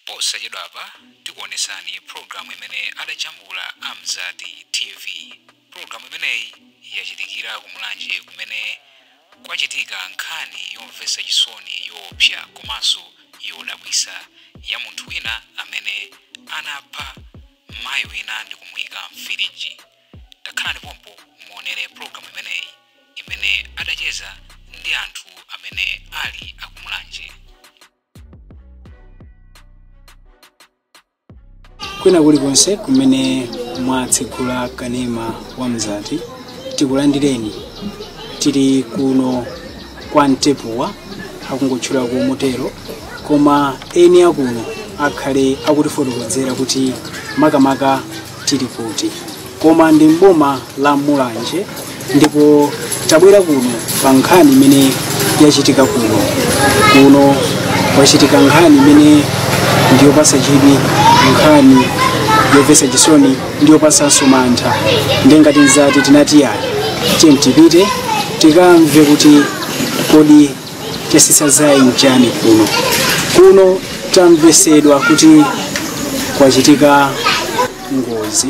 Posachedwapa tikuonetsani program imene adajambula a Mzati TV. Program imeneyi yachitikira ku Mulanje kumene kwachitika nkhani yomvetsa chisoni yoopsa komanso yodabwitsa ya munthu wina amene anapha mayi wina ndikumuika m'firiji. Takhalani pompo muonere program imeneyi imene adacheza ndi anthu amene ali a ku Mulanje. kwina kulikonse kumene mwatsekula kanema wa mzati tikulandireni tili kuno kwa mtepuwa akungotchula ku motero koma eni akuno akhale akutifotokozera kuti makamaka tili kuti koma ndi mboma la mulanje ndipo tabwera kuno pa nkhani imene yachitika kuno kuno kwachitika nkhani imene ndiyopasa chidwi nkhani yomvetsa chisoni ndiyopasanso mantha nde ngati Mzati tinati ayi tiye tipite tikamve kuti kodi chasisa zaye nchani kuno kuno tamvesedwa kuti kwachitika ngozi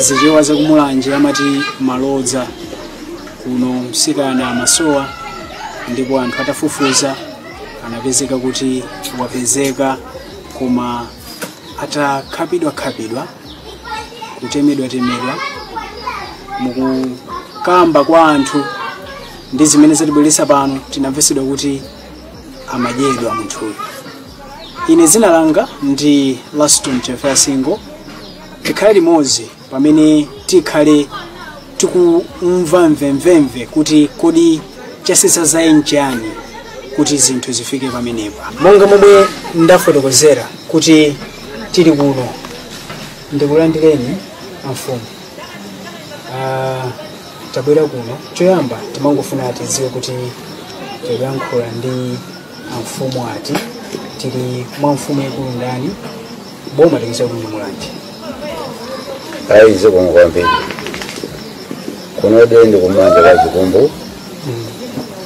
zichewa zakumulanje amati malodza kuno msikana amasowa ndipo anthu atafufuza anapezeka kuti wapezeka koma atakhapidwakhapidwa kutemedwatemedwa mukukamba kwa anthu ndi zimene zatibweretsa pano tinamvesedwa kuti amadyedwa munthuyu ine dzina langa ndi laston chefasingo tikhale limodzi pamene tikhale tikumva mvemvemve kuti kodi chasisa zaye nchiyani kuti zinthu zifike pamenepa monga momwe ndafotokozera kuti tili kuno ndikulandireni amfumu Ah, tabwera kuno choyamba timangofuna tidziwe kuti tikuyankhula ndi amfumu ati tili mwa mfumu yaikulu ndani boma tikuziwa kuti ndi mulanje ayi zikomo kwambiri kuno nde ndi kumulanje kwa chikumbu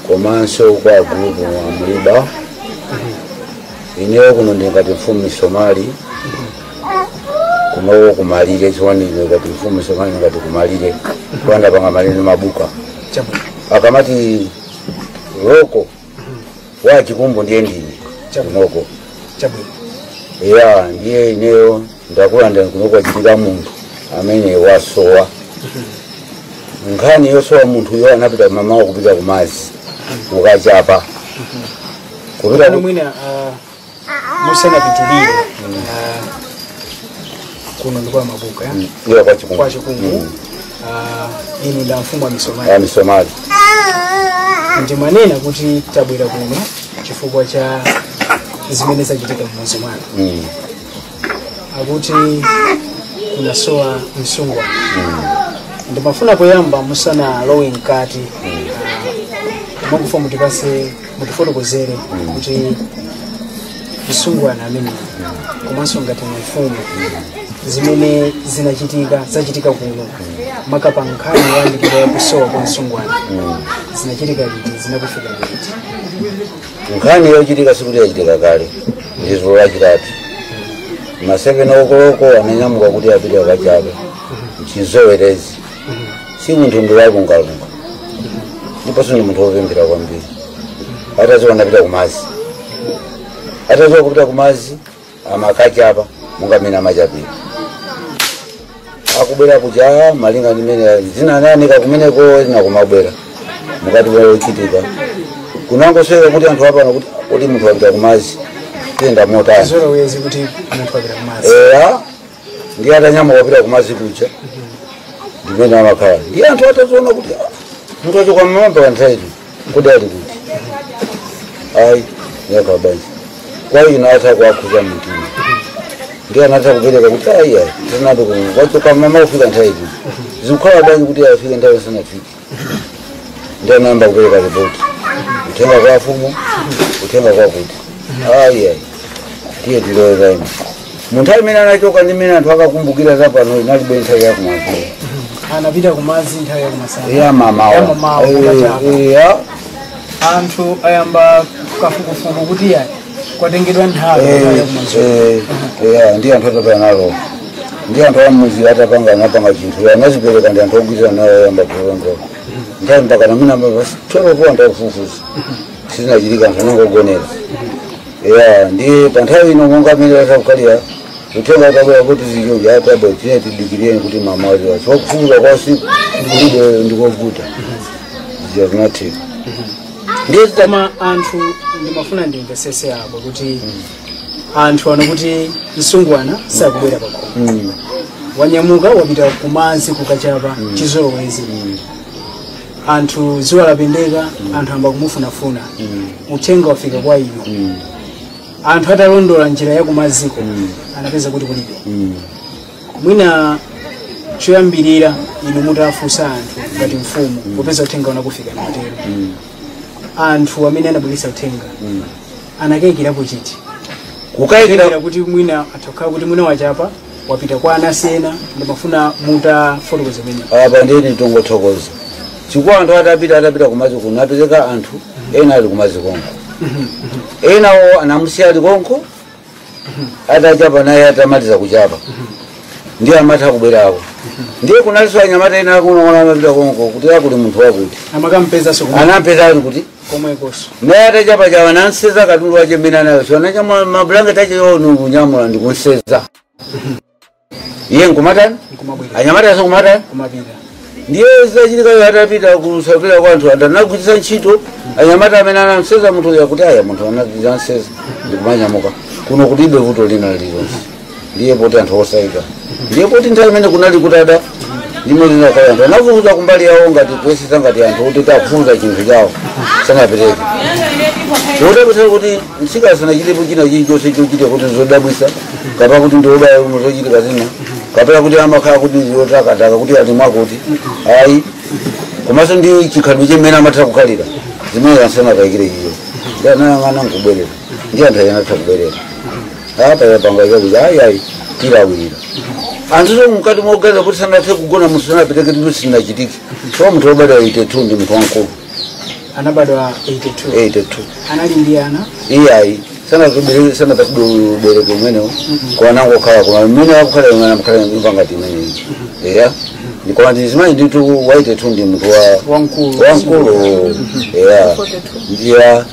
komanso kwa gulupu wa mliba ineyo kuno ndingati mfumu nsomali kunowo kumalire chiwanizo ngati mfumu somali ngati kumalire kuanda panga malire ndi mabuka chabwino akamati loko wa chikumbu ndiye ndine kunoko chabwino ya ndiye ineyo ndakulanda kunoko achitika munthu amene wasowa nkhani yosowa munthuyo anapita mamawa kupita kumazi ukachapa kupita ano ku- mwina ah, musanapitirire ah, kuno ndi kwa Mabuka eh? Ndiyo kwa Chikumbu. kwa Chikumbu ah, inu ndi amfumu a Misomali Ya misomali. ndimanena kuti tabwera kuno chifukwa cha zimene zachitika m'mudzi mwanu Mm. akuti kunasowa msungwana ndimafuna poyamba musanalowe mkati ndimafuna mutipase mutifotokozere kuti msungwana ameneyi komanso ngati mfumu zimene zinachitika zachitika kuno maka pa nkhani yoyambirira yakusowa kwa msungwana zinachitika liti zinakufikani liti nkhani yochitika sikuti yachitika kale ndi dzulo lachitatu ma seveni koloko ananyamuka kuti apite akachape mchizolowezi si munthu ndi wolungalunga ndiponso ndi munthu wopemphera kwambiri atazowera napita kumazi atazowera kupita kumazi amakachapa monga mmene amachapira akubwera kuja malinga ndi mmene zina anayanika kumeneko zina kumabwera mukati wochitika kunangomveka kuti anthu apano kuti kuti munthu wapita kumazi ayenda motani chizolowezi kuti munthu wapita kumazi eya ndiye atanyamuka kupita kumazi kuja ndimene amakhala ndiye anthu ataziona kuti "Ah, munthu wachoka mmawa mpaka nthawi ino kuti ali kuti ayi yakhala bwanji kwa iwo zitawakhuza mtima ndiye anatha kupereka kuti ayi ayi tinati wachoka mmawa kufika nthawi ino zikukhala bwanji kuti afike nthawi asanafike ndiye anayamba kupereka ripoti uthenga kwa afumu uthenga kwa kuti ayi ayi tiye tiloweza ino nthawi imene anachoka ndi imene anthu akakumbukira za pano inalibe nthawi yakumadzulo anapita kumazi nthawi yakumasana yamamawa Yamamawa, kukachapa. anthu ayamba kafukufuku kuti yayi kwatengedwa nthawi Eh, nthawi yakumazulo eh, yeah, ndi anthu atapanga nalo ndi anthu amudzi atapanga anapanga chinthu ya anazipereka ndi anthu ogwirizana nawo ayamba kuongo nthawi mpaka namina mabasi twelve ponda kufufuza sizinachitika anthu anangogonera ya ndi pa nthawi ino monga mmene atakukalira uthenga utabwera kuti zichoja atabwa tine tidikireni kuti mmawa wazi wachi wakufufuza kwa usiku ndikulibe ndikovuta zinatheka ndiye koma anthu ndimafuna ndimvetsetse apo kuti anthu aona kuti msungwana sakubwera pakhomo wanyamuka wapita kumazi kukachapa chizolowezi anthu dzuwa lapendeka anthu ayamba kumufunafuna uthenga wafika kwa inu anthu atalondola njira ya kumaziko anapeza kuti kulibe mwina choyambirira inu mutafunsa anthu ngati mfumu popeza uthenga unakufika mwatero anthu amene anabweretsa uthenga anakayikirapo chiti kukayikira kukayikira kuti mwina atakhala kuti mwina wachapa wapita kwa anasi ena ndimafuna mutafotokoza pamene apa ndiye nditongothokoza chifukwa anthu atapita atapita kumadzi kuno apezeka anthu ena ali kumadzi konko enawo anamusiya ali konko atachapa naye atamaliza kuchapa ndiye amatha kubwerako ndiye kunalinso anyamata ena akunoko amapita konko kuti akuli munthu wakuti amakampezanso komwe- anampeza ali kuti komwekonso naye atachapa chawo anamsenza katundu wache mmene anayo so anachapa mabulangete ache wo nkungonyamula ndikumsenza iye nkumatani nkumabwera anyamata aso kumatani kumapita ndiye zachitikayo atapita kusapira kwa anthu ndinagwiritsa ntchito anyamata amene anamsenza munthu uyu akuti aya munthu anamsenza ndikumanyamuka kuno kulibe vuto lina lililonse ndiye poti anthu osaika ndiye poti nthawi imene kunali kutada imene inakhala anthu anafufuza kumbali yawo ngati kuyesetsa ngati anthu kuti tikufufuza chinthu chawo sanapereke zodabwitsa kuti msika sanachitepo china chilichonse chochita kuti zodabwitsa kapena kuti ndiobaya umo zochitika zina kapena kuti amakhala kuti ndizotakataka kuti ali mwakuti ayi komanso ndi chikhalidwe chimene amatha kukhalira zimene sanakayikire iyo ndi anayang'ana nkubwerera ndi anthu ayenatha kubwerera apa yapanga chakuti ayi ayi tilawira anthu to mkati moganiza kuti sanathe kugona munthu sanapiteke tito sinachitike so munthu wobadwa 82 ndi munthu wamkulu anabadwa 82 82 anali ndi ana iye ayi sanabereke sanapatsidwe ubereko umenewo anangokhala koma mmene akukhala imene amkhala inangati imeneyi eya ndikoma ndi mzimayi nditu 82 ndi munthu wa wamkulu wamkulu eya ndiya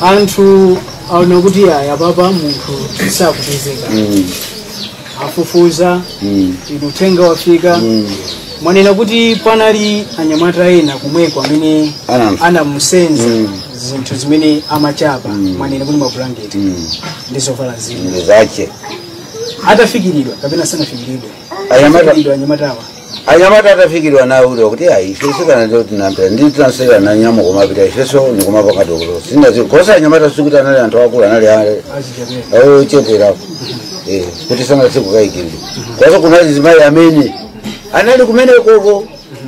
anthu aona kuti ayi apapa munthu sakupezeka afufuza inu uthenga wafika mwanena kuti panali anyamata ena komweko amene Anam- anamusenza zinthu zimene amachapa mwanena kuti mabulangete ndi zovala zina ndi zache atafikiridwa kapena sanafikiridwa anyamata atafikiridwa nawo kuti kuti ayi ife sikana leo tinampira ndi tinamsenza nanyamuka kumapita ifenso nikumapanga dokolo sinazi kosa anyamata sikuti anali anthu akulu anali ana ocheperapo Eh, kuti sanati kukayikirira kosa kunali mzimayi amene anali kumene konko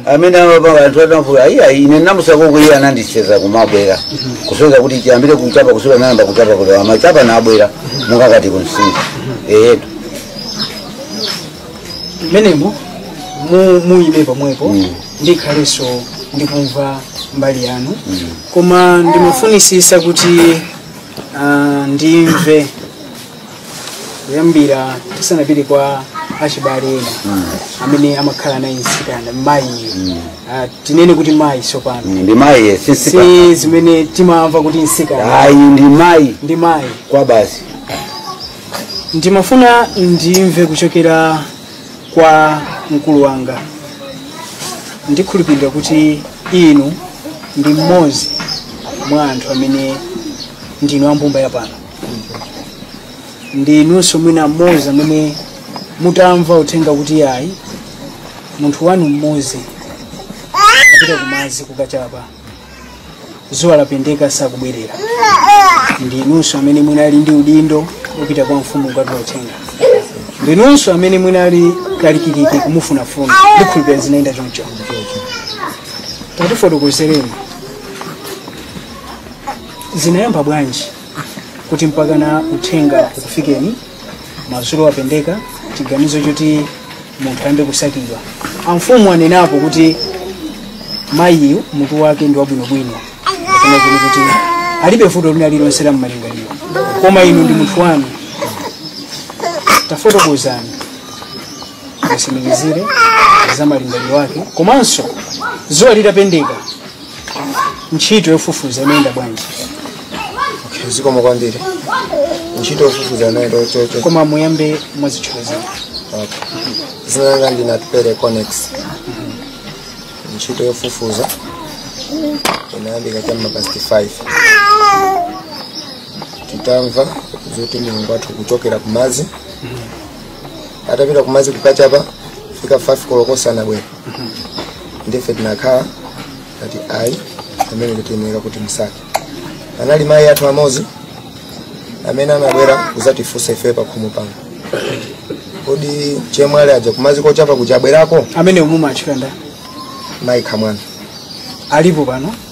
amene amapanga anthu atamfunsa ayi ine namusiyako iye anandisenza kumabwera kusonyeza kuti chiyambire kuchapa kusula nayamba kuchapa kulewa machapa nabwera mukakati kumtsinje eyetu mmenemo mu- muyime pomwepo Mm. ndikhalenso ndikumva mbali yanu koma ndimafunitsitsa kuti ah, ndimve kuyambira tisanapite kwa achibale ena amene amakhala naye mtsikana mayi Ah, tinene kuti mayi sopano ndi mayi si mtsika si zimene timamva kuti mtsikana ayi ndi mayi ndi mayi kwabasi ndimafuna ndimve kuchokera kwa mkulu wanga ndikhulupirira kuti inu ndi mmodzi mwa anthu amene ndinu ambumba yapano ndi inunso mwina mmodzi amene mutamva uthenga kuti ayi munthu wanu mmodzi apita kumadzi kukachapa zuwa lapendeka sakubwerera ndi inunso amene munali ndi udindo wopita kwa mfumu kukatula uthenga ndi inunso amene munali kalikiliki kumufunafuna ndikhulupira zinayenda choncho tatifotokozereni zinayamba bwanji kuti mpakana uthenga ukufikeni madzulo apendeka chiganizo choti munthu ayambe kusakidwa amfumu anenapo kuti mayiyu mutu wake ndi wabwinobwino kapena kuti kuti alibe vuto lina lililonse la mmalingaliro koma inu ndi munthu wanu tafotokozani mutsimikizire za malingaliro ake komanso zuwa litapendeka ntchito yofufuza inayenda bwanji Okay, zikomo kwambiri ntchito yofufuza inayenda chocho koma muyambe mwazitchula zina langa ndine Atupele Conex ntchito yofufuza inayambika cha ma past 5 titamva zoti mlongo wathu kuchokera kumazi atapita kumazi kukachapa fika 5 koloko sanabwere ndiye ife tinakhala ngati ayi amene tiyenera kuti timsake anali mayi athu amodzi amene anabwera kuzatifunsa ife pakhomo pano kodi chemwali aja kumazi kochapa kuja abwerako amene umuma achikanda mayi Kamwana alipo pano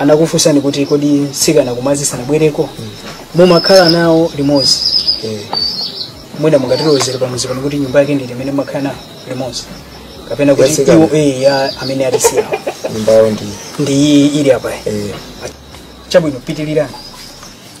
anakufunsani kuti kodi mtsikana kumazi sanabwereko mumakhala nawo limodzi Eh, mwina mungatilozere pamudzi pano kuti nyumba yake ndi iti imene mumakhala nawo limodzi kapena kuti ya atsikana. iwo eh, ya amene atisiyawo nyumba yawo ndi ndi iyi ili apayi eh, chabwino pitilirani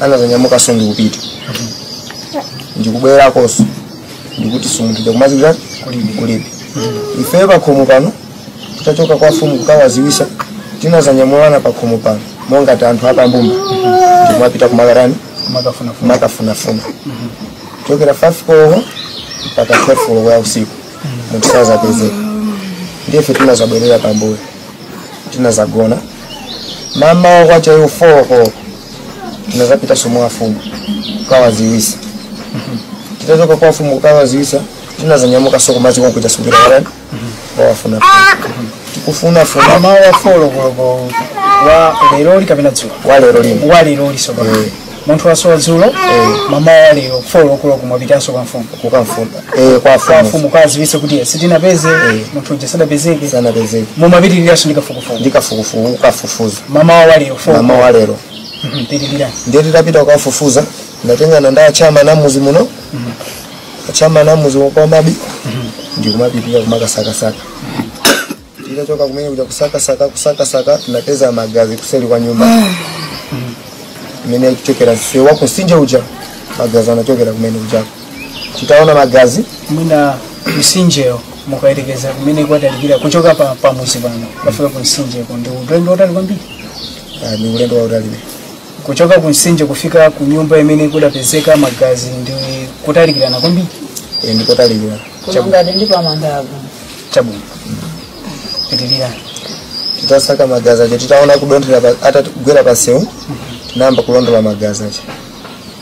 anazanyamukanso ndikupita ndikubwerakonso ndikuti si munthu uja kumazi kuja kulibe ife pakhomo pano titachoka kwa mfumu kukawaziwisa tinazanyamulana pakhomo pano monga ngati anthu apambumba ndikumapita kumakatani kumakafunafuna kuchokera 5 koloko mpaka 12 koloko ya usiku munthu sazapezeka ndiye ife tinazabwerera pambuyo tinazagona mamawa kwacha iwo 4 koloko tinazapitanso kwa afumu kukawaziwisa titachoka kwa fumu kukawaziwisa tinazanyamukanso kumazikonkuyitanso bira warani wawafuna tikufuna funa mamawa folo koloko wa leroli kapena dzulo walero lino wa leroli sowa Eh. munthu wasowa dzulo mamawa lero folo koloko mwapitanso kwa mfumu kukamfuna eh, kwa kwa fumu mfumu kwaziwisa kuti sitinapeze munthu uja sadapezeke sanapezeke mumapitiriranso ndi kafukufuku ndi kafukufuku kukafufuza mamawa wa lero four mamawa lero Mhm, pitirira ndiye titapita kukafufuza tinatengana ndi achinyamata a mmuzi muno achinyamata a mmuzi a kwa Mabi ndikumapita kumakasakasaka titachoka kumene kuja kusakasaka kusakasaka tinapeza magazi kuseli kwa nyumba imene ikuchokera msewu wa kumsinje uja magazi anachokera kumene ujako titaona magazi mwina msinjewo mukayerekeza kumene kwatalikira kuchoka pa pamudzi pano kufika ku msinjeko ndi ulendo wautali kwambiri ah, ndi ulendo wautali kuchoka ku msinje kufika ku nyumba imene kudapezeka magazi ndi kutalikirana kwambiri Eh, ndi kotalikira kulingana ndi pamandapo chabwino pitilirani titasaka magazi aja titaona kudonthera pa- atagwera pansewu tinayamba kulondola magazi aja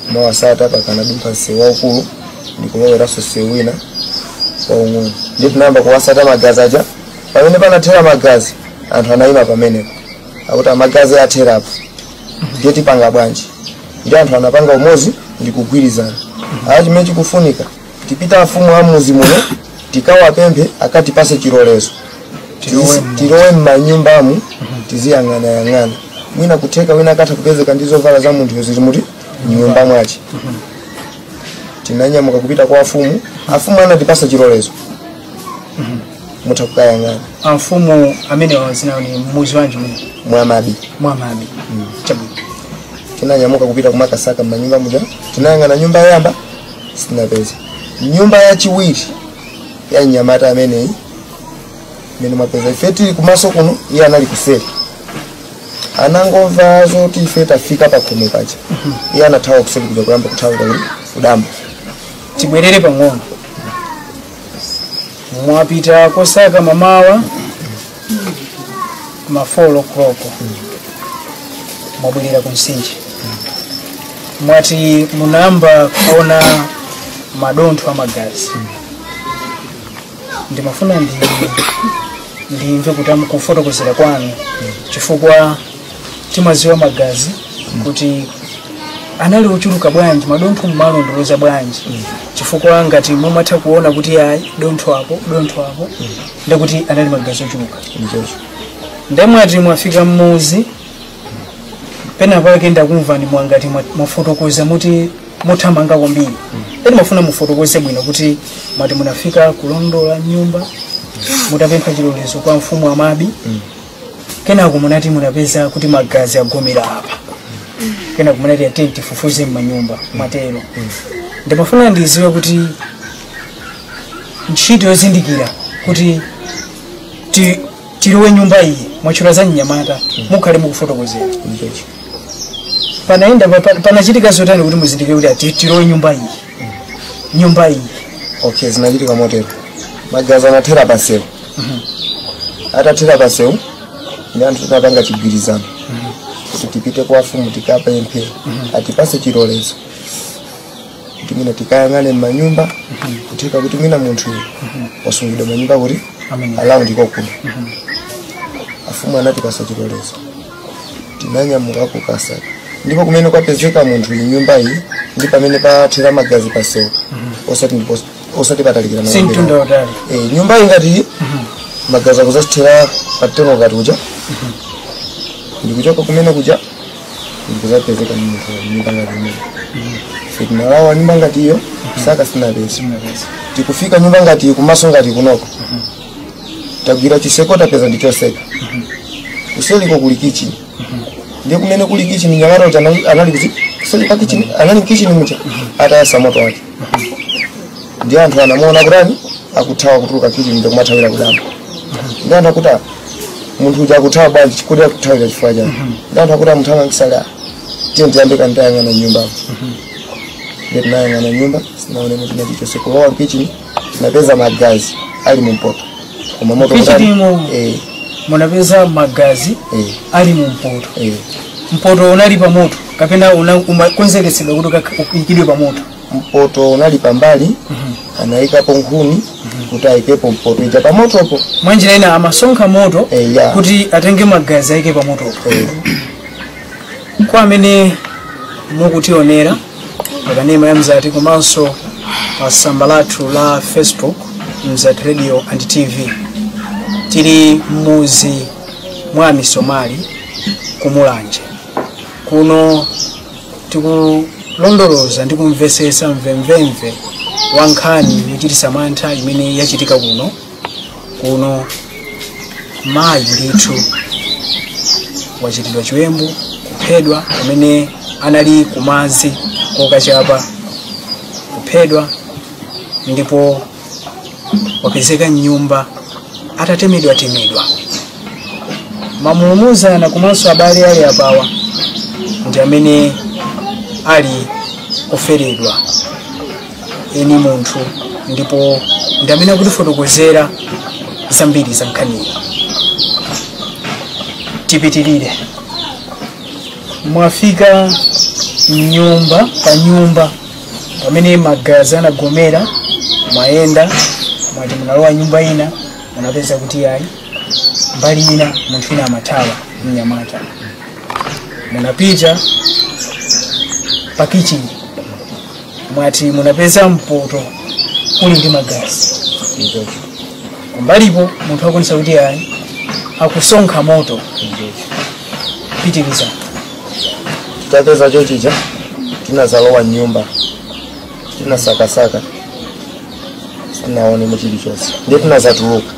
kumawasata mpaka anadumpha msewu waukulu ndikuloweranso msewu wina waung'ono ndiye tinayamba kuwasata magazi aja pamene panathera magazi anthu anayima pamenepo akuti magazi athera apa ndiye tipanga bwanji ndiye anthu anapanga umozi ndi kugwirizana awa chimene chikufunika tipite kwa afumu a muzi muno tikawapemphe akatipase chilolezo Tizi- tilowe mmanyumbamu tiziyang'anayang'ana mwina kutheka wina akatha kupezeka ndi zovala za munthu zili muti mnyumba mwache tinanyamuka kupita kwa afumu afumu anatipasa chilolezo mutha kukayang'ana amfumu amene wazinawo ndi muzi wanji muno mwa Mabi mwa Mabi chabwino tinanyamuka kupita kumakasaka mmanyumba muja tinayang'ana nyumba yamba sitinapeze nyumba yachiwiri ya mnyamata ameneyi imene mwapeza ife tili kumaso kuno iye anali kuseri anangomva zoti ife tafika pakhomo paja iye anathawa kuseri kuja kuyamba kuthawa kukakhala ku dambo tibwerere pang'ono mwapita kosaka mamawa ma 4 o'clock mwabwerera ku msinje mwati munayamba kuona madontho a magazi ndimafuna ndi ndimve kuti am- kufotokozera kwanu chifukwa timaziwa magazi kuti anali ochuluka bwanji madontho mumalondoloza bwanji chifukwa ngati mumatha kuona kuti ayi dontho apo dontho apo ndekuti anali magazi ochuluka ndiye mwati mwafika mmudzi pena pake ndakumvani mwangoti mwa- mwafotokoza mukuthamanga kwambiri ndimafuna mufotokoze bwino kuti mwati munafika kulondola nyumba mutapempha chilolezo kwa mfumu amabi kenako munati munapeza kuti magazi agomera apa kenako munati tiyeni tifufuze mmanyumba mwatero ndimafuna ndiziwe kuti ntchito yozindikira kuti ti- tilowe nyumba iyi mwatchula za mnyamata mukhale mukufotokozera panayenda pa- pa- panachitika zotani kuti muzindikire kuti ati tilowe nyumba iyi nyumba iyi okay zinachitika motero magazi anathera pasewu atathera pasewu ndiye anthu tinapanga chigwirizano kuti tipite kwa afumu tikapemphe atipase chilolezo kuti mwina tikayang'ane m'manyumba kutheka kuti mwina munthu wasungidwa m'manyumba kuti alowe ndiye kuno afumu anatipasa chilolezo tinanyamuka kukasaka ndipo kumene kwapezeka munthu iyi nyumba iyi ndi pamene pathera magazi pasewu osati ndipo osati patalikira si mtunda mabwera. watali Eh, nyumba iyi ngati iyi magazi akuzazithera patemo ngati kuja ndikuchoka kumene kuja ndikuzapezeka munthu nyumba ngati imene sitinalowe nyumba ngati iyo saka sitinapeze tikufika nyumba ngati iyi kumaso ngati kunoko tagwira chiseko tapeza ndichotseka kuseliko kuli kichini ndiye kumene kuli kichini mnyamata uja anali- anali kuti kuseli kwa kichini anali mkichini muja atayasa moto wake ndiye anthu anamuona kutani akuthawa kutuluka kitchen ndi kumathawira kudambo ndiye anthu akuti "Ah, munthu uja akuthawa bwanji kodi akuthawira chifukwa chani ndiye anthu akuti amuthawa ngisala tiyeni tiyambe kayang'ana mnyumba ndiye tinayang'ana mnyumba sitinaone munthu nachichonse kulowa kitchen tinapeza magazi ali mumpoto koma moto kuti- Kitchinimo. eh, munapeza magazi eh, ali mu mpoto eh. mpoto unali pa moto kapena una- umakonzekesedwa kuti ukak- uikidwe pa moto mpoto unali pambali anayikapo nkhuni kuti ayikepo mpoto ija pamotopo mwa njira ina amasonkha moto Eh, ya. kuti atenge magazi ayike pa motopo eh. kwa amene mukutionera pakanema ya mzati komanso pa tsamba lathu la facebook mzati radio and tv tili m'mudzi mwa misomali ku mulanje kuno tikulondoloza ndi kumvesesa mvemvemve wa nkhani yochitisa mantha imene yachitika kuno kuno mayi ndithu wachitidwa chiwembu kuphedwa pamene anali kumazi kokachapa kuphedwa ndipo wapezeka mnyumba atatemedwatemedwa mamulumuzana komanso abale ali apawa ndi amene ali oferedwa eni munthu ndipo ndi amene akutifotokozera zambiri za nkhaniyi tipitirire mwafika nyumba pa nyumba pamene magazi anagomera mwayenda mwati munalowa nyumba ina munapeza kuti ayi mbali ina munthu ina amathawa mnyamata munapita pa kichini mwati munapeza mpoto uli ndi magazi kumbalipo munthu akuonesa kuti ayi akusonkha moto pitiriza titapeza chonchicho tinazalowa mnyumba tinasakasaka sitinaonemo chilichonse ndiye tinazatuluka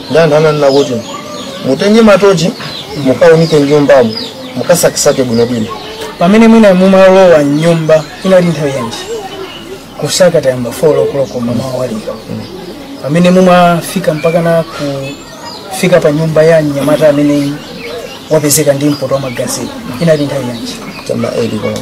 ndi anthu ananena kuti mutenge matochi mukaunike mnyumbamo mukasakisake bwinobwino pamene mwina mumalowa mnyumba inali nthawi yanji kusaka tayamba folo koloko mmamawa lija pamene mumafika mpaka na kufika pa nyumba ya mnyamata amene wapezeka ndi mpoto wa magazi inali nthawi yanji cha m'ma 8 koloko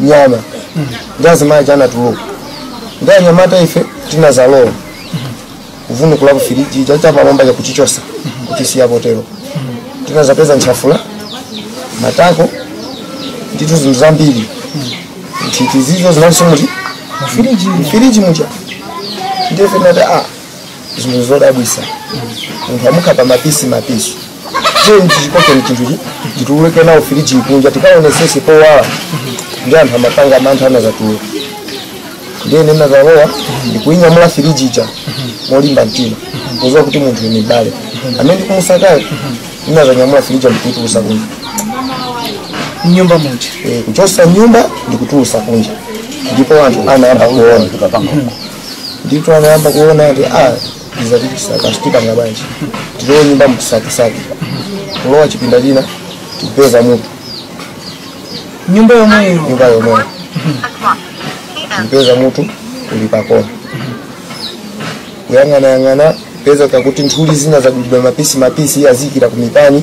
nyama ndi azimayi aja anatuluka ndi anyamata ife tinazalowa kuvunukula ku firiji ija chapamwamba kuchichosa kuchisiya potero tinazapeza ntchafula matako ndithu zinthu zambiri nthiti zizo zinaliso mfiriji muja ndiye tinati a zinthu zodabwisa munthu amukhapa mapisi mapisi chonchi chikoke ni chinthu chi- tituluke nawo firiji kunja tikaonesese powala ndi anthu amapanga mantha anazatuluka ndiye ndinazalowa ndikuinyamula firiji ija molimba mtima kuziwa kuti munthu ni mbale amene ndikumusakayo ndinazanyamula firiji ndikuitulusa kunja mnyumba muja Eh, kuchosa nyumba ndikutulusa kunja ndipo anthu anayamba kuona ndithu anayamba kuona ati a izi tikusaka zitipanga bwanji tilowe nyumba mukusakasaka kulowa chipinda china tikupeza mutu nyumba yomweyo nyumba yomweyo kupeza mutu uli pakona kuyang'anayang'ana kupeza kakuti nthuli zina zadulidwa mapisi mapisi aziikira kumipani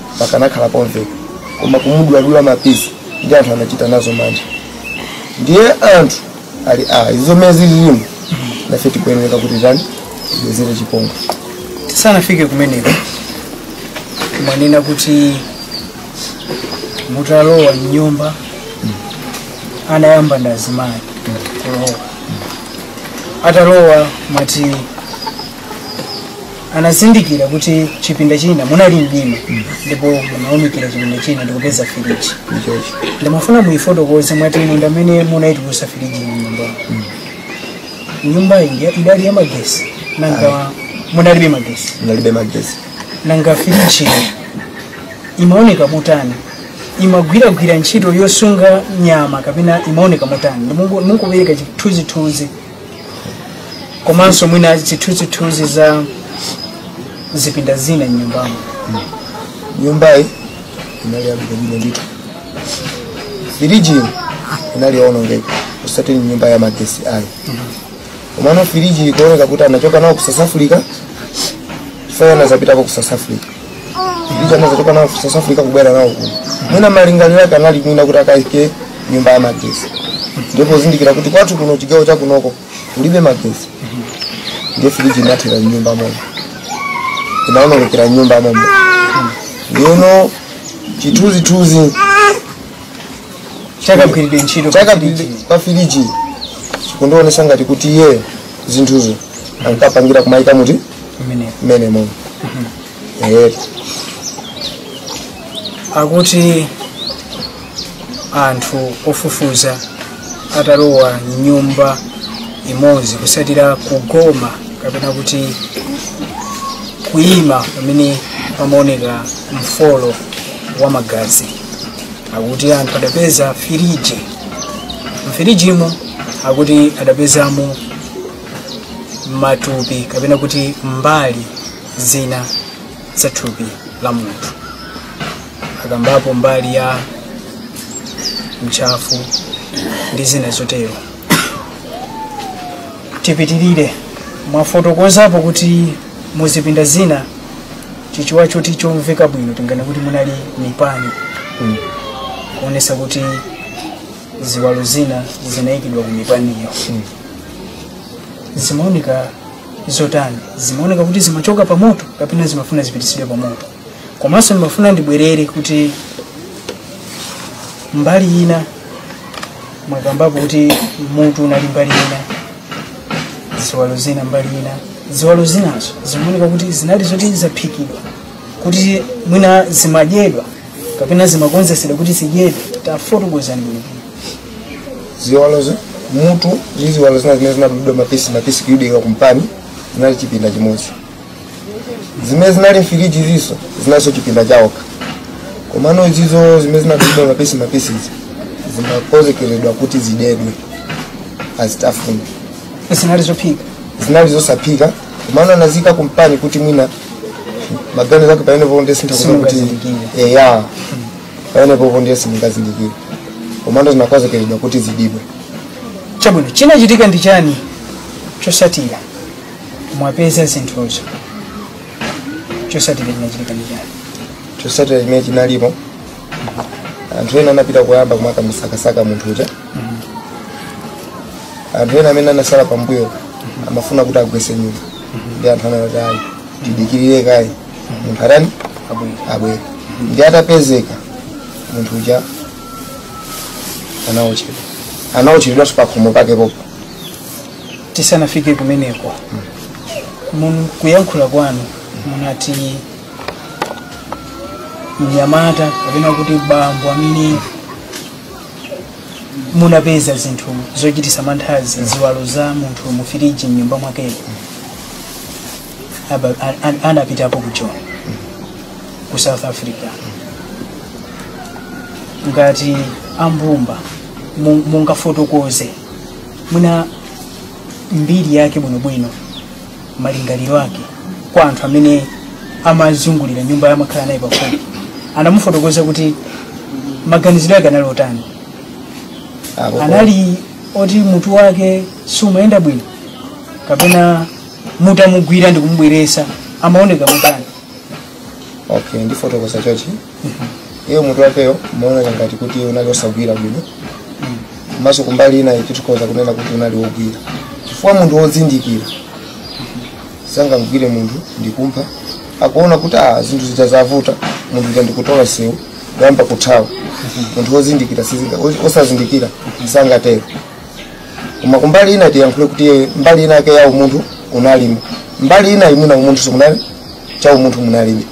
pakanakhala pomveka koma kumuduladula mapisi ndi anthu anachita nazo mantha ndiye anthu ali a izo mmene zililimu nafe tikuyeneka kuti tani tibwezere chipongwe tisanafike kumeneko mwanena kuti mutalowa mnyumba anayamba ndazimayi kulowa atalowa mwati anazindikira kuti chipinda china munali mdima ndipo munawunikira chipinda china ndikupeza firiji ndimafuna muyifotokoze mwati inu ndamene munayitulusa firiji mu nyumba nyumba iyi idali ya magesi nanga munalibe magesi inalibe magesi nanga firiji imaoneka motani imagwiradi ntchito yosunga nyama kapena imaoneka motani mungopereka chithunzithunzi komanso mwina zithunzithunzi za zipinda zina mnyumbamo nyumbayi inali yabwino ndithu firijiyo inali yoonongeka osati ndi nyumba ya magesi ayi komano firiji ikuoneka kuti anachoka nawo ku south africa chifukwa anazapitako ku south africa anazachoka nawo ku south africa kubwera nawo kuno mwina malingaliro ake anali mwina kuti akaike nyumba ya magesi ndipo pozindikira kuti kwathu kuno chigawo cha kunoko kulibe magesi ndiye firiji inathera mnyumba momo inaonongekera mnyumba momo ndiyeno chithunzithunzi chakagwiridwe ntchito chake pa firiji chikundionesa ngati kuti iyeyo zinthuzo ankapangira kumaika muti mmene mmenemo eti akuti anthu ofufuza atalowa mnyumba imodzi kusatira kugoma kapena kuti kuyima pamene pamaoneka mfolo wa magazi akuti anthu adapeza firiji mfirijimo akuti adapezamo matupi kapena kuti mbali zina za thupi la munthu akambapo mbali ya ntchafu ndi zina zotero tipitirire mwafotokozapo kuti muzipinda zina chichewa chake chomveka bwino tinganene kuti munali mipani kuonesa kuti ziwalo zina zinayikidwa ku mipaniro zimaoneka zotani zimaoneka kuti zimachoka pa moto kapena zimafuna zipitisidwe pa moto komanso ndimafuna ndibwerere kuti mbali ina mwakambapo kuti mutu unali mbali ina ziwalo zina mbali ina ziwalo zinazo zimaoneka kuti zinali zoti zaphikidwa kuti mwina zimadyedwa kapena zimakonzesedwa kuti zidyedwe tafotokozani bwino ziwalozo mutu ndi ziwalo zina zimene zimadulidwa mapisi mapisi kuyikidwa kumpani zinali chipinda chimodzi zimene zinali mfiriji nazo zinalinso chipinda chaokha komano izizo zimene zinadulidwa mapisi mapisi izi zimakonzekeredwa kuti zidyedwe azitafuna zinali zophika zinali zosaphika komano anazika kumpani kuti mwina maganizo ake pamene popo ndiye sindingakuuzeni kuti Simungazindikire. eya pamene popo ndiye simungazindikire komano zinakonzekeredwa kuti zidyedwe chabwino chinachitika ndi chani chosatira mwapeza zinthuzo chosatira chinachitika ndi chani chosatira chimene chinalipo anthu ena anapita kuyamba kumakamusakasaka munthu uja anthu ena amene anasala pambuyo amafuna kuti agwese nyumba ndi anthu anayo ayi tidikirire kaye munthu atani abwere ndi atapezeka munthu uja anaotchedwa anaotchedwanso pakhomo pake popo tisanafike kumeneko mun kuyankhula kwanu munati mnyamata kapena kuti bambo ameneyu munapeza zinthu zochitisa manthazi ziwalo za munthu mu firiji mnyumba mwakemo Aba- a- a- anapitapo ku Joni ku south africa ngati ambumba mu- mungafotokoze mwina mbiri yake bwinobwino malingaliro ake kwa anthu amene amazungulira nyumba amakhala naye pafupi anamufotokoza kuti maganizidwe ake anali otani Apo- anali oti mutu wake sumayenda bwino kapena mutamugwira ndikumubweresa amaoneka motani okay ndifotokoza chochi iyo mutu wakeyo umaoneka ngati kuti unali osagwira bwino komanso kumbali ina tikhoza kunena kuti unali wogwira chifukwa munthu wodzindikira sangamgwire munthu ndikumupha akuona kuti a zinthu zija zavuta munthu uja ndikutola msewu kuyamba kuthawa munthu wozindikira sizinga os- osazindikira sangatero koma kumbali ina tiyankhule kuti iye mbali ina yake ya umunthu unalimo mbali ina inayo umunthu munali cha umunthu munalibe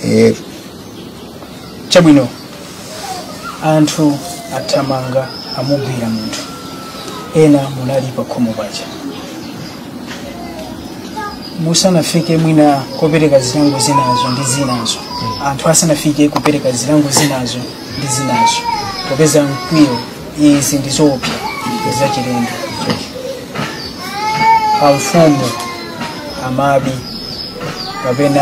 Eh, chabwino anthu athamanga amugwira munthu ena munali pakhomo paja musanafike mwina kopereka zilango zinazo ndi zinazo anthu asanafike kupereka zilango zinazo ndi zinazo popeza mkwiyo izi ndi zoopsa zachilendo amfumu amabi kapena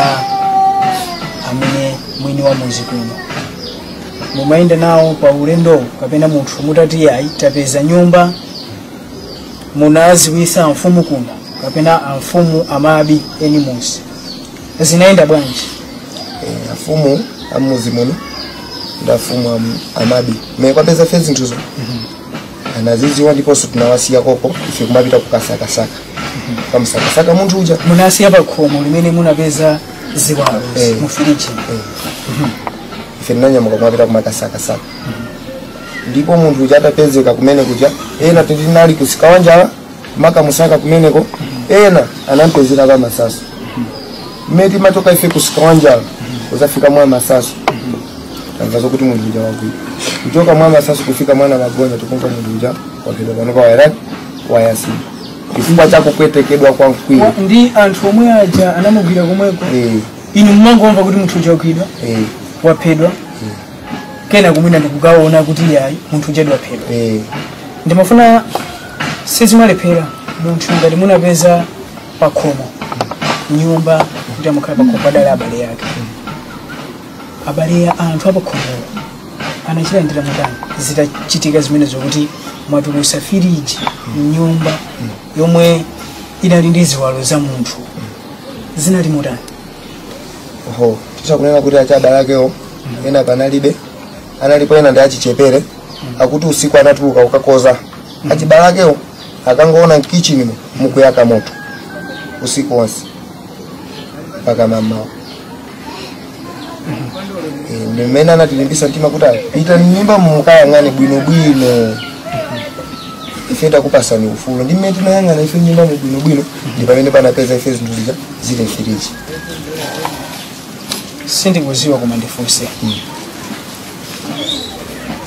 amene mwini wa muzi kuno mumayenda nawo pa ulendowu kapena munthu mutati ayi tapeza nyumba munaziwisa amfumu kuno kapena amfumu amabi eni muzi zinayenda bwanji Eh, afumu amuzi muno ndi afumu am- amabi mmene tinapeza ife zinthuzo anaziziwa ndiponso tinawasiya koko ife kumapita kukasakasaka kukamusakasaka munthu uja munasiya pa khomo limene munapeza ziwalo Eh. mu firiji ife tinanyamuka kumapita kumakasakasaka ndipo munthu uja atapezeka kumene kuja ena tinali kumsika wa njala makamusaka kumeneko ena anampezera kwa Masasa mmene timachoka ife kumsika wa njala kuzafika mwa Masasa tamva zokuti munthu uja wagwidwa kuchoka mwa Masasa kufika mwana magonja tikumva munthu uja waphedwa panopa wayaka wayatsidwa chifukwa cha kupwetekedwa kwa mkwiyo ndi anthu omwe aja anamugwira komweko Eh, inu mumangomva kuti munthu uja wagwidwa eh. waphedwa kena kubwera ndikukaona kuti yayi munthu uja wadiphedwa eh ndimafuna sizimalephera munthu ngati munapeza pakhomo mnyumba kuti amakhala pakhomo padali abale yake abale ya anthu apakhomowo anachilandira motani zitachitika zimene zokuti mwatulusa firiji mnyumba yomwe inali ndi ziwalo za munthu zinali motani oho titha kunena kuti achibale akewo ena panalibe analipo ena ndi achichepere akuti usiku anatuluka kukatiuza achibale akewo ankangoona mkichinimo mukuyaka moto usiku wonse mpaka mamawa Eh, ndi mmene anatilimbisa mtima kuti "Ayi, pitani mnyumba mukayang'ane bwinobwino ife takupasani ufulu ndi mmene tinayang'ana ife mnyumbamo bwinobwino ndi pamene tinapeza ife zinthu zija zili mfiriji sindikuziwa koma ndifunse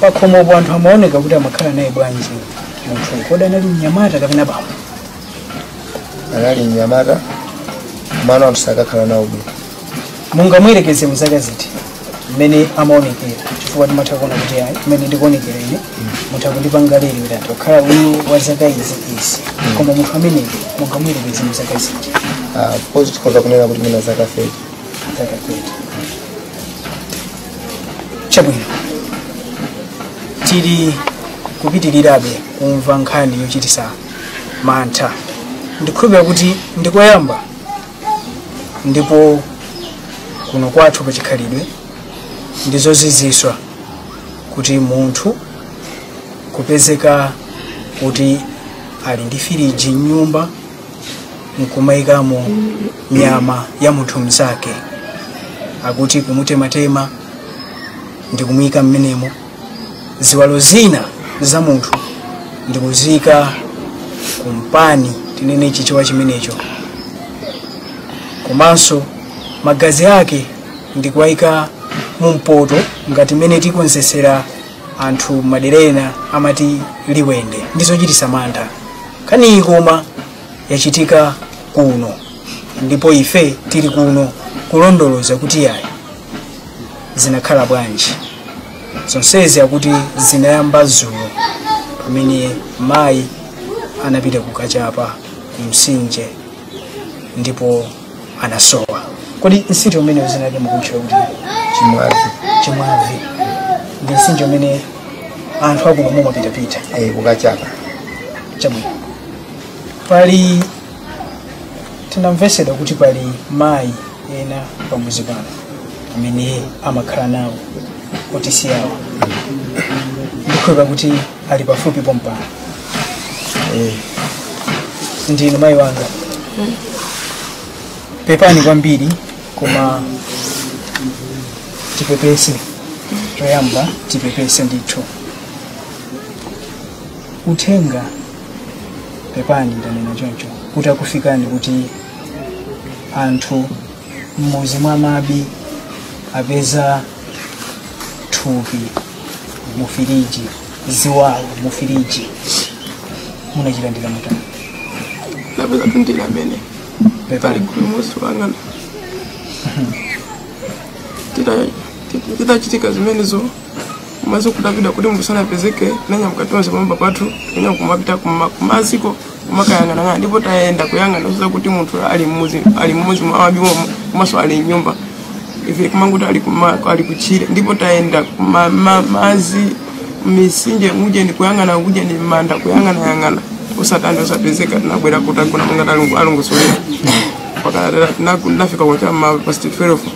pakhomopo anthu amaoneka kuti amakhala naye bwanji munthu kodi anali mnyamata kapena bambo anali mnyamata komano anthu sakakhala nawo bwino mungamuyerekeze mu zaka ziti mmene amaonekera chifukwa timatha kuona kuti ayi mmene ndikuonekera ine mutha kundipanga lero kuti akhala uyu wa zaka izi izi koma munthu amene mungamuyerekeze mu zaka ziti Of course tikhoza kunena kuti mwina zaka 30 zaka 30 chabwino tili kupitirirabe kumva nkhani yochititsa mantha ndikhulupira kuti ndikoyamba ndipo kuno kwathu pa chikhalidwe ndi zozizwitsa kuti munthu kupezeka kuti ali ndi firiji mnyumba nkumayikamo nyama ya munthu mnzake akuti kumutematema ndi kumuyika mmenemo ziwalo zina za munthu ndikuziika kumpani tinene chichewa chimenecho komanso magazi ake ndikuwayika mu mpoto ngati mmene tikonzesera anthu madera enawa amati liwende ndi zochititsa mantha nkhaniyi koma yachitika kuno ndipo ife tili kuno kulondoloza kuti ayi zinakhala bwanji zonsezi akuti zinayamba zulo pamene mayi anapita kukachapa kumsinje ndipo anasowa kodi msinje umene zinali mukutchula kuti chimwazi chimwavi ndi msinje umene anthu akuno mumapitapita eh, kukachapa chabwino pali tinamvetsedwa kuti pali mayi ena pamuzi pano amene amakhala nawo otisi yawo ndikhulupira kuti ali pafupi pompano Eh, ndinu mayi wanga pepani kwambiri koma tipepese choyamba tipepese ndithu uthenga pepani ndanena choncho kuti akufikani kuti anthu m'muzi mwa mabi apeza thupi mu firiji ziwalo mu firiji munachilandira motani napeza pindira amene pali pepani kuli musi wangana titachitika zimenezo maze kudabwira kuti munthu sanapezeke tinanyamuka tonse pamwamba pathu kunya kumapita kuma- kumaziko kumakayang'anayang'ana ndipo tayenda kuyang'ana kuza kuti munthu ali mmuzi ali mmuzi mwa wabiwomo komanso ali mnyumba ife kumanguti ali kuma- ali kuchire ndipo tayenda kuma- ma- mazi misinje uje ndikuyang'ana uje ni manda kuyang'anayang'ana osatani osapezeka tinabwera kuzagona monga talongosolera pakatera tinafika kwacha ma past 12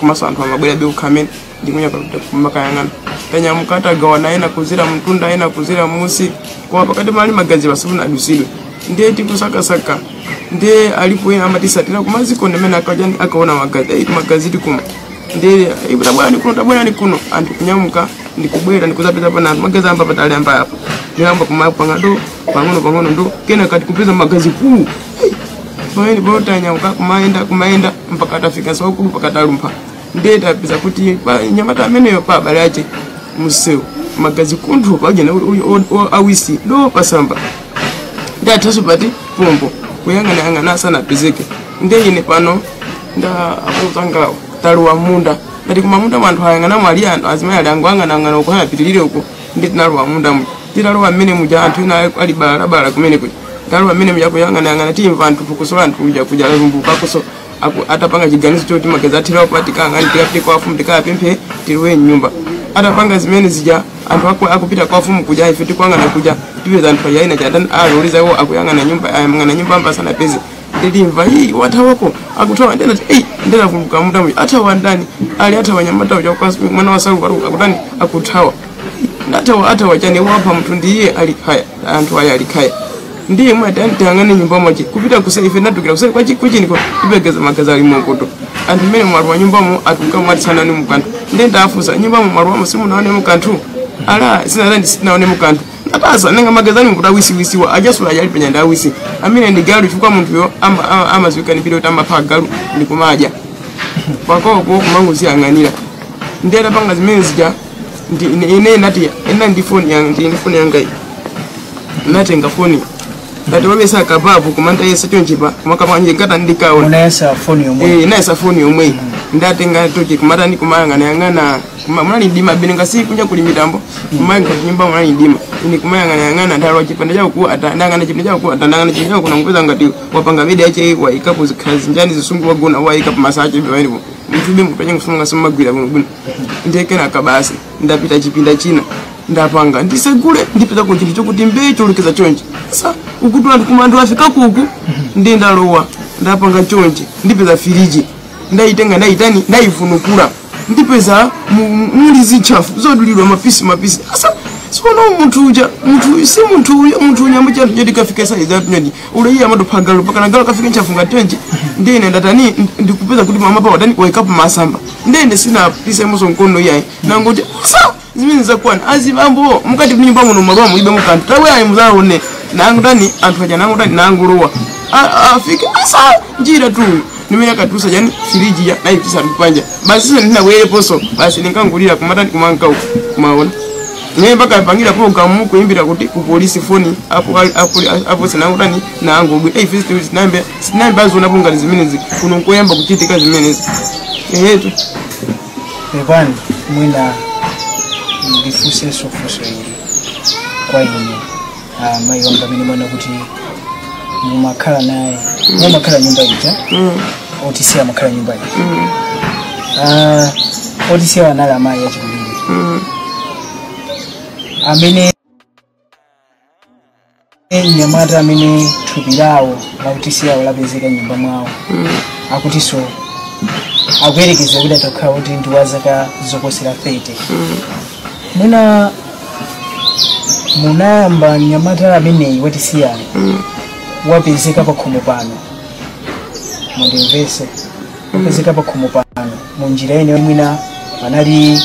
komanso anthu amabwerabe ukhamene ndikunya kumakayang'ana tanyamuka tagawana ena kuzera mtunda ena kuzera mmusi koma pakati mali magazi pasifuna adusidwe ndiye tikusakasaka ndiye alipo ena amatisatira kumaziko nde amene akajani akaona magazi ayi magazi tikumva ndiye "Ayi, tabwerani kuno tabwerani kuno anthu kunyamuka ndikubwera ndikuzapeza pana anthu magazi ayamba patali ayamba apa ndiyamba kumapanga ndo pang'ono pang'ono ndo kenaka tikupeza magazi kuu pamenepo tanyamuka kumayenda kumayenda mpaka atafika sukulu mpaka atalumpha ndiye tapeza kuti pa nyamata ameneyo pa abale ache msewu magazi kunthu pajena awisi do pasamba ndi athaso pati pombo kuyang'anayang'ana asanapezeke ndiye ine pano ndi anzangawo talowa munda ngati kumamunda mwa anthu ayang'ana mwali anthu azimayi ali angoyang'anayang'ana uko anapitirire uko nde tinalowa munda muja titalowa mmene muja anthu ena ali balalabala kumene kuja talowa mmene muja kuyang'anayang'ana timva anthu phokoso la anthu kuja kuja lalumbukakoso atapanga chiganizo choti magazi athera apa tikayang'ane tikapite kwa afumu tikayapemphe tilowe mnyumba atapanga zimene zija anthu aku- akupita kwa afumu kuja ife tikuyang'ana kuja tipeza anthu aja ena atani aloleza iwo akuyang'ana nyumba ayang'ana nyumba sanapeze ndilimva iyi wathawako akuthawa ndena eyi ndena kuluka mutamu athawa ndani ali athawa nyamatawo chakukasi mwana wasaluka ali akutani akuthawa ndathawa athawa chani wapha muthu ndiye alikhaya anthu aya alikhaya ndiye mwati antiyang'ane nyumba mwache kupita kusa ife ndadukira kuseri kwachi kuchiniko ipegeza magazi ali mwakoto anthu mmene mwali wa nyumbamo atuka mwatsanani mukanthu ndiye ndafusa nyumbamo mwali wamo simunaonemo kanthu ala sinatandi sitinaonemo kanthu apasa nanga magazi awa kuti awisiwisiwa achasula achali pa nyanda awisi amene ndi galu chifukwa munthuyo ama- ama- amadziwika ndi mbiri yoti amapha agalu ndi kumadya pakwawopo kumangoziyang'anira ndi atapanga zimene zija ndi- ine- ine nati ena ndi foni yanga ndi foni yanga iyi. natenga foni ngati wamesa kababu kumanta yese chonchipa kumakapanje nkata ndikaona unayesa foni yomwe eh naisa foni yomwe ndatenga tochi kumatani kumayang'anayang'ana kuma- munali mdima bene ngasi kunja kuli mitambo koma mnyumba munali mdima ine kumayang'anayang'ana ndalowa chipinda chao ku ata ndayang'ana chipinda chao ku ata ndayang'ana chipinda chao kuna ndikupeza ngati wapanga bedi yache waikapo zikhazi njani zisungu wagona waikapo masache bani mtube mkupenye kusunga simagwira bwino bwino nde kenaka basi ndapita chipinda china ndapanga ndisegule ndipezako chinthu chokuti mbee cholukiza chonchi sa ukuti anthu koma anthu afika kuku ndi ndalowa ndapanga chonchi ndipeza firiji ndayitenga ndayitani ndayivunukula ndipeza mu- mu- muli zintchafu zodulidwa mapisi mapisi asa siona munthu uja munthu uyu si munthu uyu munthu uyu ambacho anthu nyoti kafika saizi atu nyoti ule iye amatopha galu mpakana galu akafika ntchafu ngati chonchi ndiye ine ndatani ndi- ndikupeza kuti pamwambapa watani waikapo masamba ndiye ine sinapisemonso mkono iyayi nangoti sa zimene zakwana azibambo mukati mnyumba muno malowa mulibemo kanthu tabwera muzawone nangutani anthu aja nangutani nangulowa afike asa njira tu nimene akatusa chani firiji ya nayi tisanu panja basi sasa ndinabwereponso basi ndinkangulira kumatani kumanka uku kumaona naye mpaka apangira programu kuimbira kuti ku polisi foni apo apo apo sinangutani nangobwe eyi fisi tiwisi sinayambe sinayambe azona pungani zimenezi kuno nkoyamba kuchitika zimenezi eyetu pepani mwina ndifunsenso funso ili kwa inu ah, mayi wanga amene mwanena kuti mumakhala naye mumakhala nyumba ija otisiya amakhala nyumba ija Ah, otisiya anali amayi achikulire amene mnyamata amene thupi lawo la otisiyalo lapezeka mnyumba mwawo akutinso akuyerekeza kuti atakhala kuti ndi wa zaka zoposera 30 mwina munayamba mnyamata ameneyi otisiyawo wapezeka pakhomo pano mundimvese wapezeka pakhomo pano mu njira ina mwina panali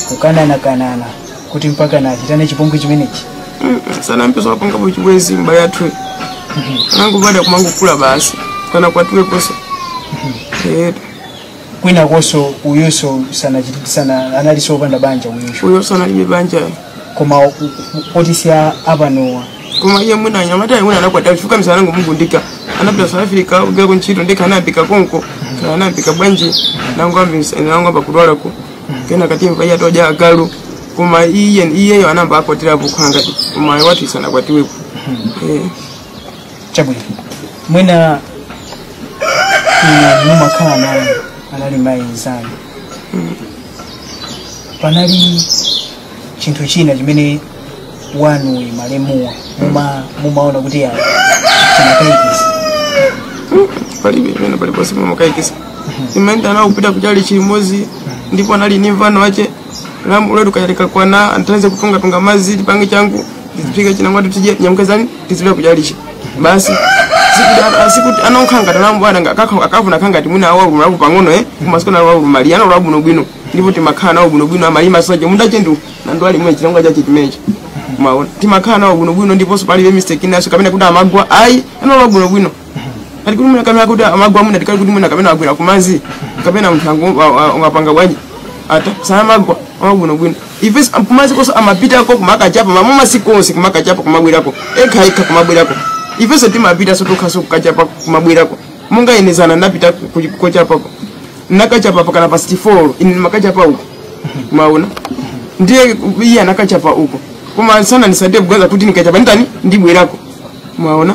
kukananakanana kuti mpaka nachitane chipongwe chimenechi sinamve zoti wapangapo chibwezi mba yathu nangu badwa ya kumangukula basi sanakwatiwe konse Eh, kwinakonso uyunso sana, sana analinso opanda banja uyunso uyonso analibe banja koma otisiya apanowa koma iye mwina anyamata ayi mwina anakwatira chifukwa misala nangumugundika anapita south africa kugwira ku ntchito ndika anayambika konko kaya anayambika bwanji nangu ambisa nangu amba kudwala ku kenaka timva iya toja agalu koma iye iyeyo anamba akwatirapo khanga koma wathuyu sanakwatiwepo eh chabwino mwina inu mumakhala naye anali mayi nzanu panali chinthu china chimene wanu malemuwa muma mumaona kuti ya chinakaikisa palibe imene paliponse pamakaikisa timaenda nawo kupita kuchalichi chimozi ndipo anali ni mvano wache lamu uletu kayalika kwana anthandize kutungatunga mazi tipange changu tiziphika chinangwatu tije nyamukazani tizipita kuchalichi basi sikuti anokhala ngati alamu bwana nga- akakha- akavuna kha ngati mwina awaluma labu pang'ono eh kumasiku nawo awaluma mali anali abwinobwino ndipo timakhala nawo bwinobwino amalima soje munda chendu nandu ali mwe chinangwa chache chimenechi mwaona timakhala nawo bwinobwino ndiponso palibe mistake inanso kapena kuti amagwa ayi anali abwinobwino kali kuti mwina kamera kuti amagwa mwina tikali kuti mwina kapena agwera kumanzi kapena munthu angu- a- a- ungapanga bwanji ata samagwa amabwino bwino ife s- kumanzi konse amapitako kumakachapa mama masiku onse kumakachapa kumabwerako ekha ekha kumabwerako ifenso timapita so tokhaso kukachapa kumabwerako monga ine zana ndapita ku- ku- kochapako nakachapa pakana pa 64 ine ndimakachapa uko maona ndiye iye anakachapa uko koma sana ndisatire kugaza kuti nikachapa nditani ndibwerako maona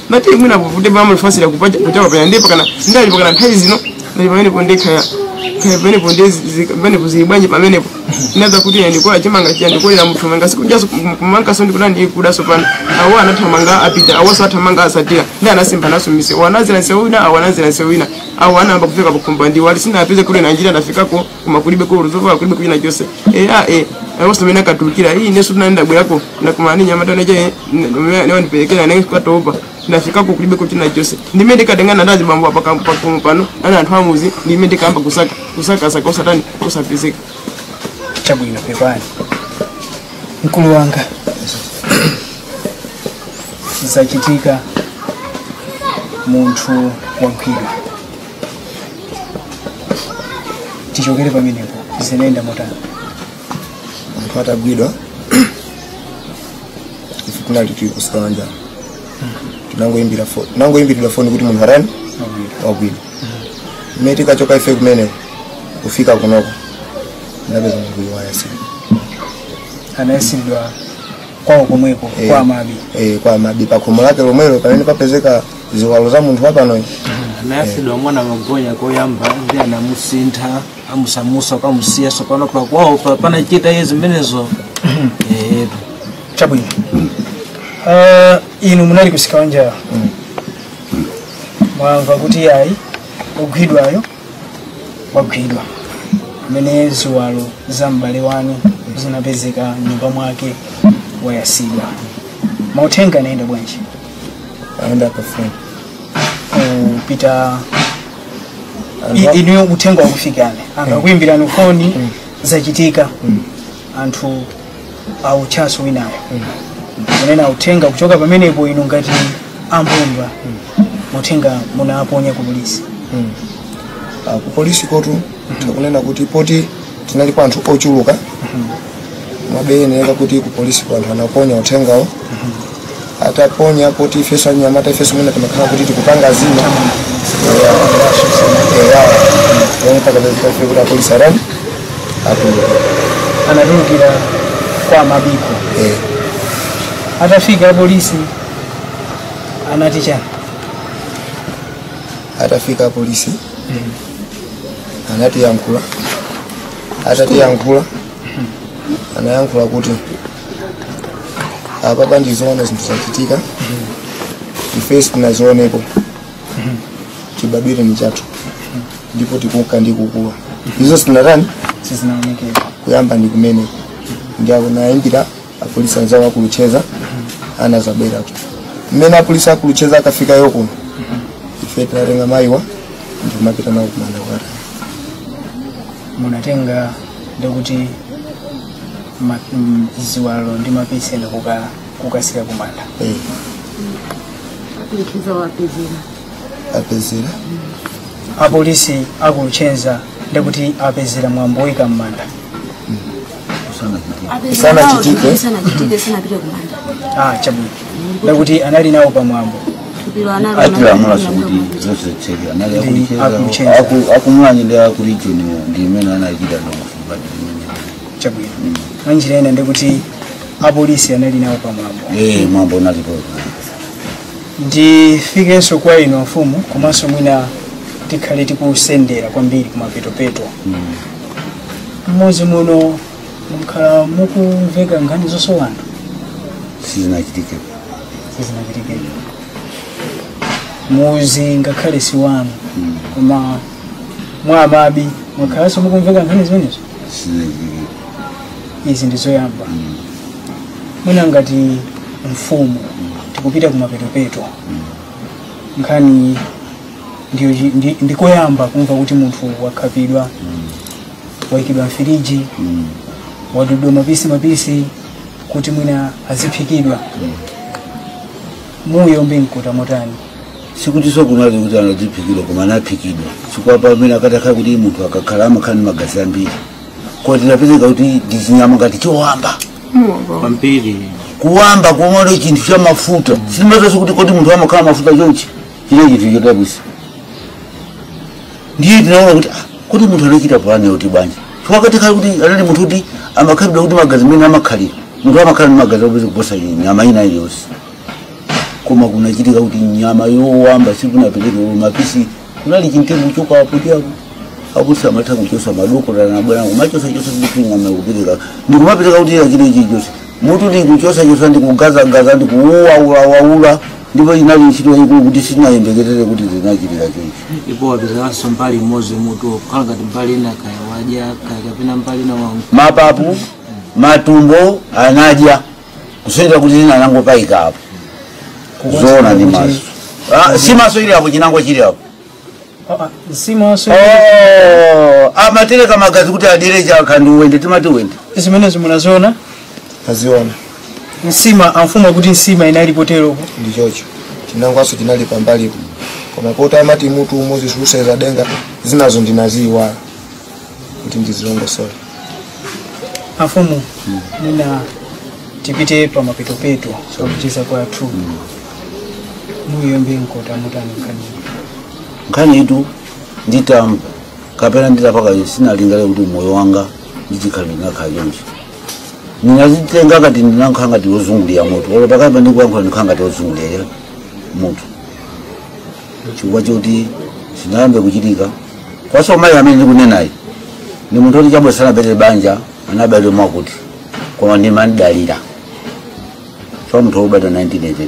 nati mwina kuvute bama fasira kupaja kuchapa panya ndipo kana ndali pakana nthawi zino ndali pamene po ndekha ya kaya pamene pondezi pamene kuzibanje pamene po nadza kuti ine ndikola chimanga chiya ndikolera mutu wanga sikujaso kumanga so ndikuda ndi kudaso pano awo anathamanga apita awo so athamanga asatira ndi anasimba naso mise wanazira nse wina awo anazira nse wina awo anayamba kufika pakhumba ndiwo ali sinapeze kuti ndi njira ndafikako koma kulibeko zovala kulibe ko china chonse eya e awonso mmene akatulukira iyi ifenso tinayenda bwerako nakumana ndi mnyamata neche nawandiperekeza nditatopa ndafikako kulibe ko china chonse ndi mmene ndikatengana ndi azibambo apa kam- pa khomo pano ana anthu a m'mudzi ndi mmene ndikayamba kusaka kusakasaka usatani usapezeka chabwino pepani mkulu wanga zachitika munthu wagwidwa tichokere pamenepo zinayenda motani munthu atagwidwa ife kunali tili kusanja tinangoimbira fo- tinangoimbiridwa foni kuti munthu atani wagwidwa mmene tikachoka ife kumene kufika kunoko ndapeza munthu uyu wayatsidwa anayatsidwa kwawo komweko Eh. kwa amabi eh, kwa mabi pakhomo lake lomwelo pamene papezeka ziwalo za munthu wapanoyi anayatsidwa momwe anamugoneka koyamba ndi anamusintha amusamutsa kukamusiya tsopano pakwawo pa- panachita iye zimenezo etu chabwino Ah, inu munali kusika wanjala mwamva kuti ayi ogwidwayo wagwidwa amene ziwalo za m'bale wanu zinapezeka nyumba mwake wayatsidwa mauthenga anayenda bwanji ayenda pafoni kupita inuyo uthenga wakufikani angakuimbirani foni zachitika anthu autchaso winawo kunena uthenga kuchoka pamenepo inu ngati ambumba uthenga munaponya ku polisi Ah, ku polisi kotu tikunena kuti poti tinali ndi anthu ochuluka mwina zioneka kuti ku polisi kwa anthu anaponya uthengawo ataponya poti ifeso anyamata ifenso mwina timakhala kuti tikupanga zina kuti apolisi arani atuluka anatulukira kwa mabiko Eh, atafika apolisi anati chani atafika apolisi anatiyankhula atatiyankhula anayankhula kuti apapa ndi zoona zinthu zachitika ife sitinazionepo chibadwire nichathu ndipo tikuka ndi kukula izo sitinatani sizinaonekera kuyamba ndi kumeneko ndiye akunayimbira apolisi anzawo aku Luchenza anazabweratu mmene apolisi aku Luchenza akafika kuno ife tinatenga mayiwa ndikumapita nawo kumanda kwata munatenga ndikuti ma- mm, ziwalo ndi mapisi ena kuka- kukasira kumanda Eh, kuikiza wapezera apezera apolisi aku Luchenza ndikuti apezera mwambo woyika mmanda Sanachitike. sanachitike sanapite kumanda ah chabwino ndikuti anali nawo pamwambo atilamulanso kuti zonse zitseke anali Aku Luchenza. aku Luchenza aku- akumwanyi ndi aku region ndi amene anachita ndongofumbati chabwino mwanjira ina ndikuti apolisi anali nawo pamwambo ee mwambo unalipo ndifikenso kwa inu amfumu komanso mwina tikhale tikusendera kwambiri kumapetopeto mmudzi muno mukhala mukumveka nkhani zosowa anthu sizinachitike sizinachitike mudzi ngakhale si wanu koma mwa amabi mukhalanso mukumveka nkhani zimenezo sizinachitike izi ndi zoyamba mwina ngati mfumu tikupita kumapetopeto nkhani ndiyo chi- ndi- ndikuyamba kumva kuti munthu wakhapidwa waikidwa mfiriji mm. wadudwa mapisi mapisi kuti mwina aziphikidwa mm. moyo mukukhuta motani sikuti sokunazi kuti aziphikidwa koma anaphikidwa chifukwa pamene akatakhala kuti munthu akakhala amakhala ndi magazi ambiri koma tinapeza kuti ndi chinyama ngati chowamba kwambiri kuwamba kuona chinthu cha mafuta sindimadziwanso kuti kodi munthu amakhala mafuta chonchi chinali chinthu chodabwisa ndiye tinaona kuti ah, kuti mutu anachita pulani yoti bwanji chifukwa kale kuti anali munthu kuti amakhalidwa kuti magazi mene amakhalira munthu amakhala ndi magazi opeza kuposa nyama ina iliyonse koma kunachitika kuti nyama yowamba sikunapereke mapisi kunali chintegu chokawapo chako akuti amatha kuchosa madokotala nabwana kumachosachosa ndikuing'ama kupereka ndikumapereka kuti achite ichichosi mutu ndikuchosachosa ndikugazagaza ndikuuwaulawaula ndipo inali ntchito yayikulu kuti sitinayembekezere kuti zinachitika choncho ndipo wapezanso mbali imodzi mutu kukhala ngati mbali ina kaya wadya kaya kapena mbali ina wa mapapu matumbo anadya kusonyeza kuti zina anangopayika apo kuziona ndi maso Ah, nsimaso ili apo chinangwa chili apo nsimaso Oh, amatereka magazi kuti adyere chaka ndi uwende timati uwende zimenezi munaziona naziona nsima amfumu kuti nsima inali poteropo ndi choncho chinangwaso chinali pambalipo koma poti amati mutu umodzi siusenza denga zinazo ndinaziiwala kuti ndizilongosole afumu mwina tipite pa mapetopeto akucheza kwathu muyomba mkota motani nkhani nkhani iyitu nditamba kapena nditapanga sinalingalire kuti moyo wanga ndichikhalire sinakhale chonchi ndinazitenga ngati ndinankhala ngati wozungulira mutu olo pakati pandikuyankhula ndikhala ngati wozungulira mutu chifukwa choti sizinayambe kuchitika kwaso mayi amene ndikunenayi ndi munthu oti chabwino sanapeze banja anabadwa mwakuti koma ndimandidalira so munthu wobadwa 1982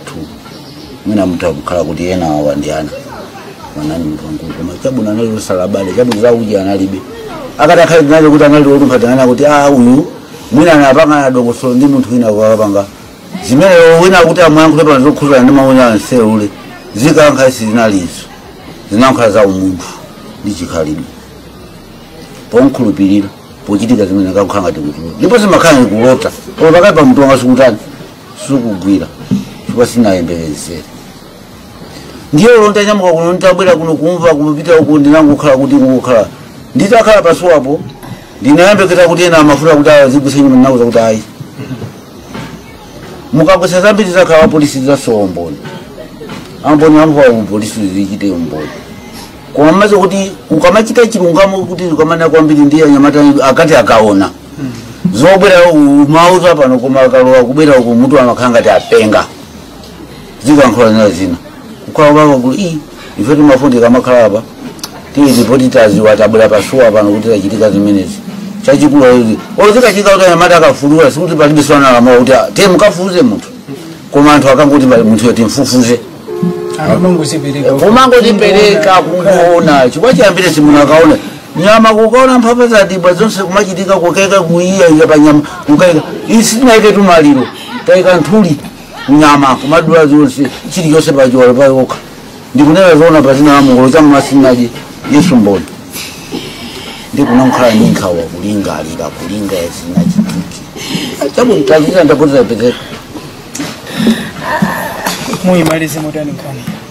mwina mutha kukhala kuti ena awa ndi ana manani munthu wankulu koma chabwino anali osalabada chabwino zauji analibe akati akhale tinali kuti anali olumpha tinana kuti a uyu mwina anapanga na dongosolo ndi munthu wina wakapanga zimene wina akuti amayankhula pa zokhuzana ndi maunyansi eee zikanakhala sizinalizo zinankhala za umunthu ndi chikhalidwe pomkhulupirira pochitika zimene kakukhala ngati kutulo ndipo zimakhala ndi kulota koma pakati pa mutu wanga sikutani sikugwira chifukwa sinayembekezere ndiye olo ntanyamuka kuno nditabwera kuno kumva kupita uku ndinangokhala kuti kungokhala nditakhala pasuwapo ndinayembekeza kuti ena amafuna kuti azigwetse nyumba ndinauza kuti ayi mukagwetsa zambiri zakhala apolisi asowa umboni umboni wamvu apolisi zichite umboni koma mmaze kuti ukamachita chilungamo kuti ukamana kwambiri ndiye anyamata akati akaona zobwera umauza pano koma akalowa kubwera uku mutu amakhala ngati apenga zikankhola zina zina kukhala kwako kuli ii ife timafundika makhala apa tiizi poti taziwa tabwera pasiwa pano kuti tachitika zimenezi chachikulu ayi zikuchitika kuti anyamata akafulula sikuti palibe swana alamuwa kuti ah, te mukafufuze munthu koma anthu akangoti pali munthu yoti mfufuze amangozipereka kumangozipereka kungoona chifukwa chiyambire si munthu akaona nyama kukaona mphamvu za dibwa zonse kumachitika kukaika kuiya iya panyama kukaika isi tinaike tumaliro taika nthuli nyama kumadula zonse chilichonse pachiwalo pake okha ndikunena zoona pa dzina la mulungu lozama masinaji yesu mboni ndinakhala ndi nkhawa kulingalira kulinga yazinachitiki tabutazira ndapoteza pezeka muyimalize motani nkhani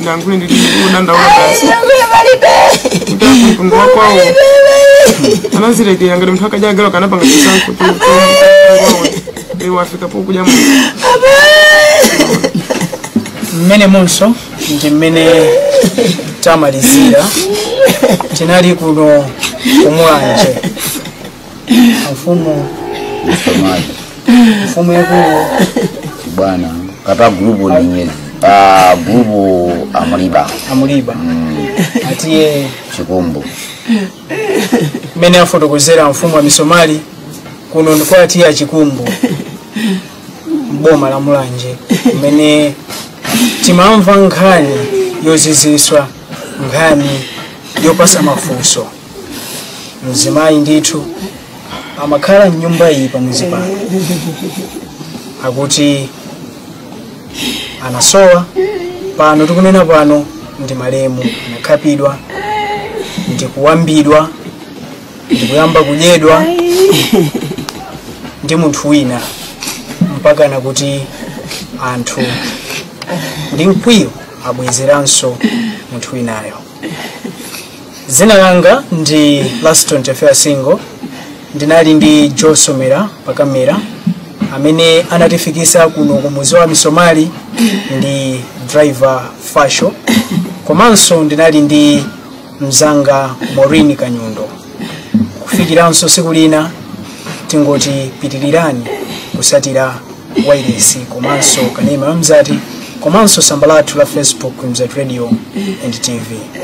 ndangoti ndili kudandaula basi kuti mtundu wakwawo anazilekera ngati munthu akadya galu kanapanga chisankho iwafika pokuja mu mmene monsemo ndi mmene tamalizira tinali kuno kumulanje mfumu misomali mfumu yakulu bwana kata gulupu ni nyezi ah, gulupu amuliba amuliba a T/A chikumbu mmene afotokozera mfumu a misomali kuno ndi kwa T/A achikumbu m'boma la mulanje kumene timamva nkhani yoziziswa nkhani yopasa mafunso mzimayi ndithu amakhala mnyumba iyi pamuzi pano akuti anasowa pano tikunena pano ndi malemu anakhapidwa ndikuwambidwa ndikuyamba kudyedwa ndi munthu wina mpakana kuti anthu ndi mkwiyo abwezeranso munthu winayo dzina langa ndi laston tefera singo ndinali ndi joe somera pakamera amene anatifikisa kuno ku muzi wa misomali ndi driver fasho komanso ndinali ndi mzanga maureen kanyundo kufikiranso siku lina tingoti pitirirani kusatira wailesi komanso kanema mzati komanso tsamba lathu la facebook mzati radio and tv